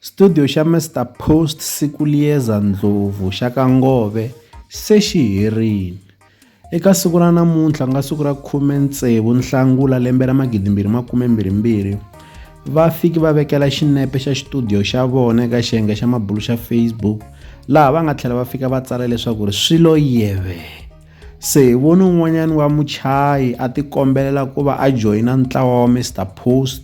Studio xa Mister Post Sikulieza Ndlovu xa ka Ngove se xi herile. Eka siku ra namuntlha nga siku ra 16 Nhlangula lembe ra 2022 va fiki va vekela xinepe xa xitudiyo xa vona eka xiyenge xa mabulu xa Facebook laha va nga tlhela va fika va tsala leswaku ri swilo yeve. Se hi vone un'wanyana wa muchayi a tikombelela ku va a joyina ntlawa wa Mister Post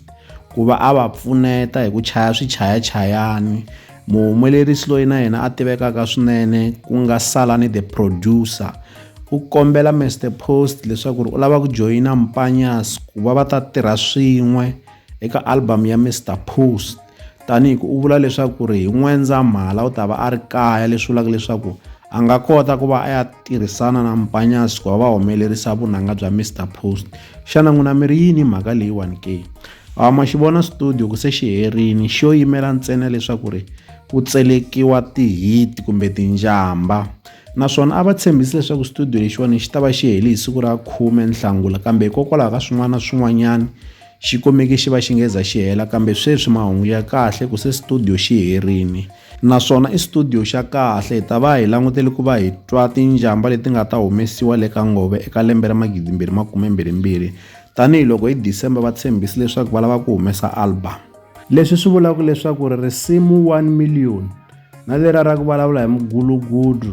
ku va a va pfuneta hi ku chaya swichayachayani muhumelerisi loyi na yena a tivekaka swinene ku nga Salani the producer u kombela Mister Post leswaku ri u lava ku joyina Mpanyas ku va va ta tirha swin'we Eka album ya Mr Poost, Taniku u vula leswaku ri hi N'wendzamhala u ta va a ri kaya leswi vulaka leswaku a nga kota ku va a ya tirhisana na Mpanyasi ku va va humelerisa vunanga bya Mr Post xana n'wina mi ri yini mhaka leyiwani ke a ma xi vona studio ku se xi herini xo yimela ntsena leswaku ri ku tselekiwa tihit kumbe tinjamba naswona a va tshembisi leswaku studio lexiwani xi ta va xi heli hi siku ra khume nhlangula kambe hikokwalaho ka swin'wana na swin'wanyana Xikomeki xi va xi nge za xi hela kambe sweswi mahungu ya kahle ku se studio xi herile. Naswona i studio xa kahle. Hi ta va hi langutele ku va hi twa tinjhamba leti nga ta humesiwa le ka Nghovo eka lembe ra magidimbirhi makumembirhimbirhi tanihi loko hi December va tshembise leswaku va lava ku humesa album. Leswi swi vulaka leswaku ri risimu One Million na leriya ra ku vulavula hi mugulugudu,